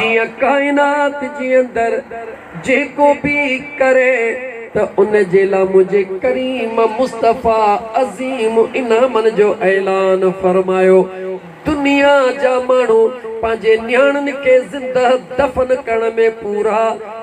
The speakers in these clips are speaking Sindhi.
جيئن ڪائنات جي اندر جيڪو به ڪري ته ان جي لا منهنجي ڪريم مصطفيٰ عظيم انعامن جو اعلان فرمايو دنيا جا ماڻهو پنهنجي نياڻين کي زندهه دفن ڪرڻ ۾ پورا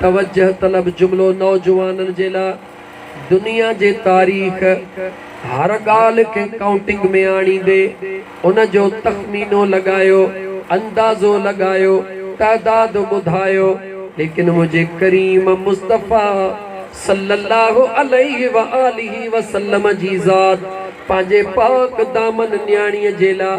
توجه طلب جملو نوجوانن جي لاء دنيا جي تاريخ هر ڳالهه کي ڪائونٽنگ ۾ آڻيندي ان جو تخمينو لڳايو اندازو لڳايو تعداد ٻڌايو ليڪن منهنجي ڪريم مصطفيٰ صلّي اللّٰه عليه واٰله وسلّم جي ذات پنهنجي پاڪ دامن نياڻيء جي لاء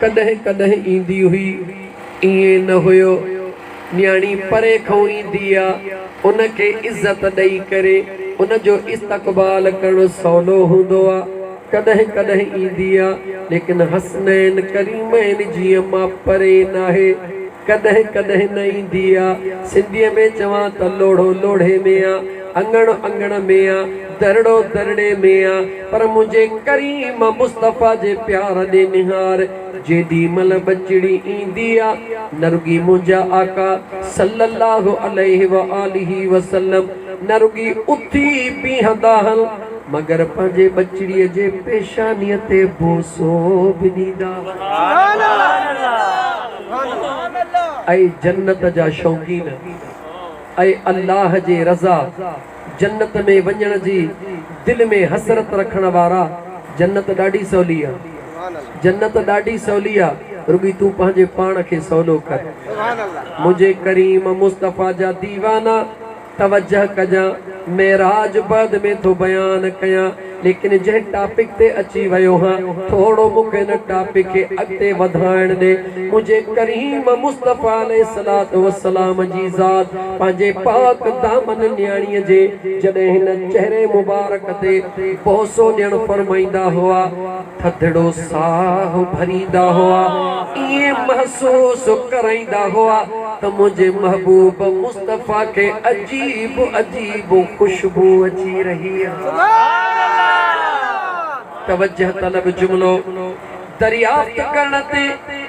ڪڏهن ڪڏهن ايندي هئي، ائين نه هيو. نياڻي پري کان ايندي آ، ان کي عزت ڏئي ڪري ان جو استقبال ڪرڻ سولو هوندو آ. ڪڏهن ڪڏهن ايندي آ، ليڪن حسنين ڪريمين جيئن مان پري ناهي. ڪڏهن ڪڏهن نه ايندي آ. سنڌيء ۾ چوان ته لوڙهو لوڙهي ۾ آ، اڱڻ اڱڻ ۾ آ. درڙو درڙي ۾ آ پر منهنجي ڪريم مصطفيٰ جي پيار ڏي نهار جيڏي مهل ٻچڙي ايندي آ نه رڳي منهنجا آقا صلّي اللّٰه عليه واٰله وسلّم نه رڳي اٿي بيهندا هن مگر پنهنجي ٻچڙي جي پيشاني تي بوسو به ڏيندا هن. اي جنت جا شوقين اي الله جي رضا جنت ۾ وڃڻ جي دل ۾ حسرت رکڻ وارا جنت ڏاڍي سولي آ جنت ڏاڍي سولي آ رڳي تون پنهنجي پاڻ کي سولو ڪر منهنجي ڪريم مصطفيٰ جا ديوانا توجه ڪجان معراج بعد ۾ ٿو بيان ڪيان. ليڪن جنهن ٽاپڪ تي اچي ويو هان ٿورو مون کي ان ٽاپڪ کي اڳتي وڌائڻ ڏي منهنجي ڪريم مصطفي عليه الصلوة والسلام جي ذات پنهنجي پاڪ دامن نياڻي جي جڏهن هن چهري مبارڪ تي بوسو ڏيڻ فرمائيندا هئا ٿڌڙو ساھ ڀريندا هئا، ائين محسوس ڪرائيندا هئا ته منهنجي محبوب مصطفيٰ کي عجيب عجيب خوشبو اچي رهي آهي. توجهه طلب جملو دريافت ڪرڻ تي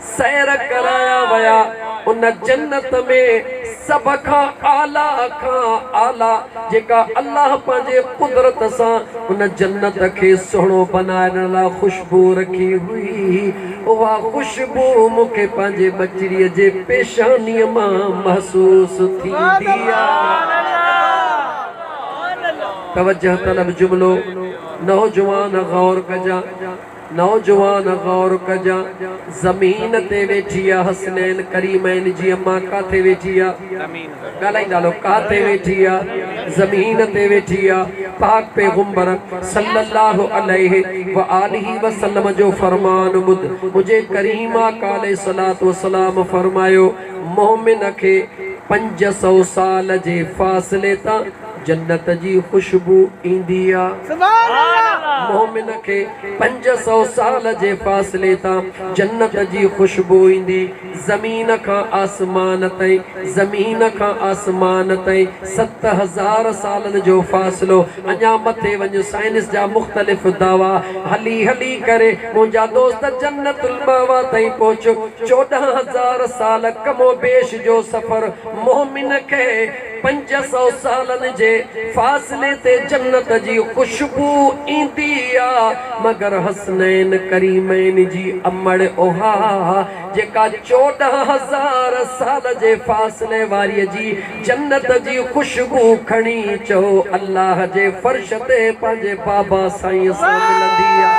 سير ڪرايا ويا، ان جنت ۾ سڀ کان اعليٰ کان اعليٰ جيڪا الله پنهنجي قدرت سان ان جنت کي سهڻو بنائڻ لاء خوشبوء رکي هئي، اها خوشبوء مون کي پنهنجي ٻچڙيء جي پيشانيء مان محسوس ٿيندي آهي. توجهه طلب جملو، نوجوان غور ڪجان! نوجوان غور ڪجان زمين تي ويٺي آ حسنين ڪريمين جي اما ڪاٿي ويٺي آ ڳالهائيندا هلو ڪاٿي ويٺي آ زمين تي ويٺي آ پاڪ پيغمبر صلي الله عليه و آله و سلم جو فرمان ٻڌ منهنجي ڪريم آقا عليه الصلوة والسلام فرمايو مؤمن کي پنج سؤ سال جي فاصلي تان جنت جي خوشبو ايندي آ. مومن کي پنج سؤ سال جي فاصلي تان جنت جي خوشبو ايندي. زمين کان آسمان تائين، زمين کان آسمان تائين ست هزار سالن جو فاصلو. اڃا مٿي وڃ سائنس جا مختلف دعويٰ. هلي هلي ڪري منهنجا دوست جنت المأويٰ تائين پهچ. چوڏهن هزار سال ڪم و بيش جو سفر مومن کي. پنج سؤ سالن جي فاصلي تي جنت جي خوشبو ايندي آ مگر حسنين ڪريمين جي امڙ اها آ جيڪا چوڏهن هزار سال جي فاصلي واري جي جنت جي خوشبو کڻي چئو الله جي فرش تي پنهنجي بابا سائين سان ملندي آ.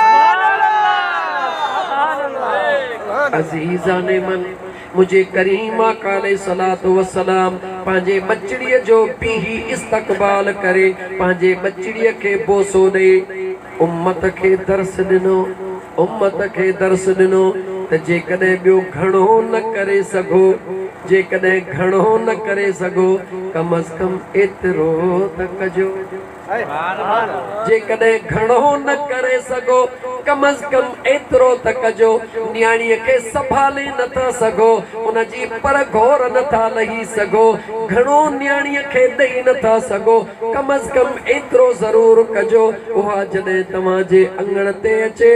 عزيزان من! منهنجي ڪريم آقا عليه الصلوة والسلام پنهنجي ٻچڙيء جو بيهي استقبال ڪري پنهنجي ٻچڙيء کي بوسو ڏئي امت کي درس ڏنو امت کي درس ڏنو ته جيڪڏهن ٻيو گهڻو نه ڪري سگهو جيڪڏهن گهڻو نه ڪري سگهو ڪم از ڪم ايترو ته ڪجو. جيڪڏهن گهڻو نه ڪري سگهو، ڪم از ڪم ايترو ته ڪجو، نياڻيء کي سنڀالي نه ٿا سگهو، ان جي پر گهور نه ٿا لهي سگهو، گهڻو نياڻيء کي ڏئي نه ٿا سگهو، ڪم از ڪم ايترو ضرور ڪجو، اها جڏهن توهان جي اڱڻ تي اچي،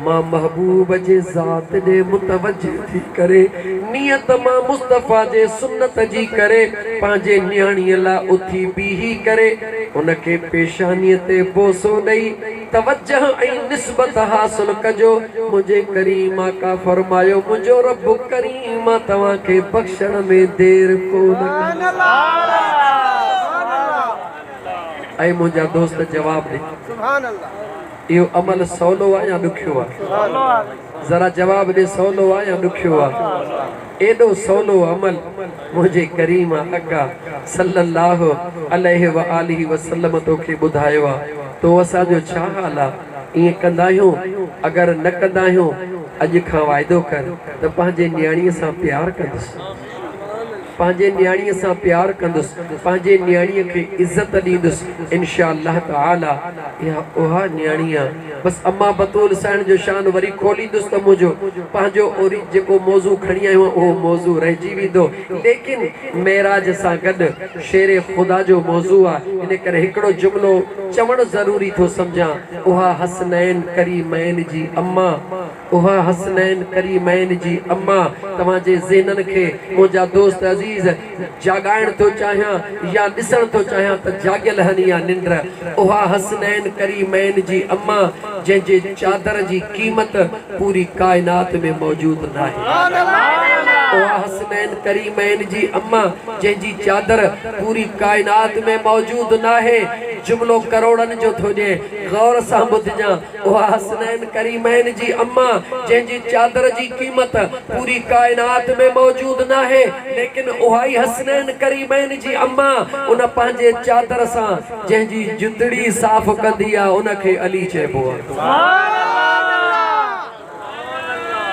مان محبوب جي ذات ڏي متوجه ٿي ڪري نيت مان مصطفيٰ جي سنت جي ڪري پنهنجي نياڻيء لاء اٿي بيهي ڪري ان کي پيشانيء تي بوسو ڏئي توجه ۽ نسبت حاصل ڪجو منهنجي ڪريم آقا فرمايو منهنجو رب ڪريم آ توهان کي بخشڻ ۾ دير ڪو نه ڪندو. اي منهنجا دوست جواب ڏي. اهو عمل سولو آ يا ڏکيو آ؟ ذرا جواب ڏي سولو آ يا ڏکيو آ؟ ايڏو سولو عمل منهنجي ڪريم آقا صلّي اللّٰه عليه واٰله وسلّم توکي ٻڌايو آ تو اسان جو ڇا حال آ؟ ائين ڪنداهيون اگر نه ڪنداهيون اڄ کان واعدو ڪر ته پنهنجي نياڻيء سان پيار ڪندس. پنهنجي نياڻيء سان پيار ڪندس، پنهنجي نياڻيء کي عزت ڏيندس، انشاء الله تعالٰي اها اها نياڻي آ. بس امان بتول سائڻ جو شان وري کوليندس ته منهنجو پنهنجو اوري جيڪو موضوع کڻي آيو آهيان اهو موضوع رهجي ويندو ليڪن معراج سان گڏ شير خدا جو موضوع آ ان ڪري هڪڙو جملو چوڻ ضروري ٿو سمجهان اها حسنين ڪريمين جي امان اها حسنين ڪريمين جي اما توهان جي ذهنن کي منهنجا دوست عزيز جاڳائڻ ٿو چاهيان يا ڏسڻ ٿو چاهيان ته جاڳيل هن يا ننڊ اها حسنين ڪريمين جي اما جنهن جي چادر جي قيمت پوري ڪائنات ۾ موجود ناهي اها حسنين ڪريمين جي اما جنهن جي چادر پوري ڪائنات ۾ موجود ناهي جملو ڪروڙن جو ٿو ڏين غور سان ٻڌجان اها حسنين ڪريمين جي اما جنهن جي چادر جي قيمت پوري ڪائنات ۾ موجود ناهي ليڪن اهائي حسنين ڪريمين جي اما ان پنهنجي چادر سان جنهن جي جتڙي صاف ڪندي آ ان کي علي چئبو آ.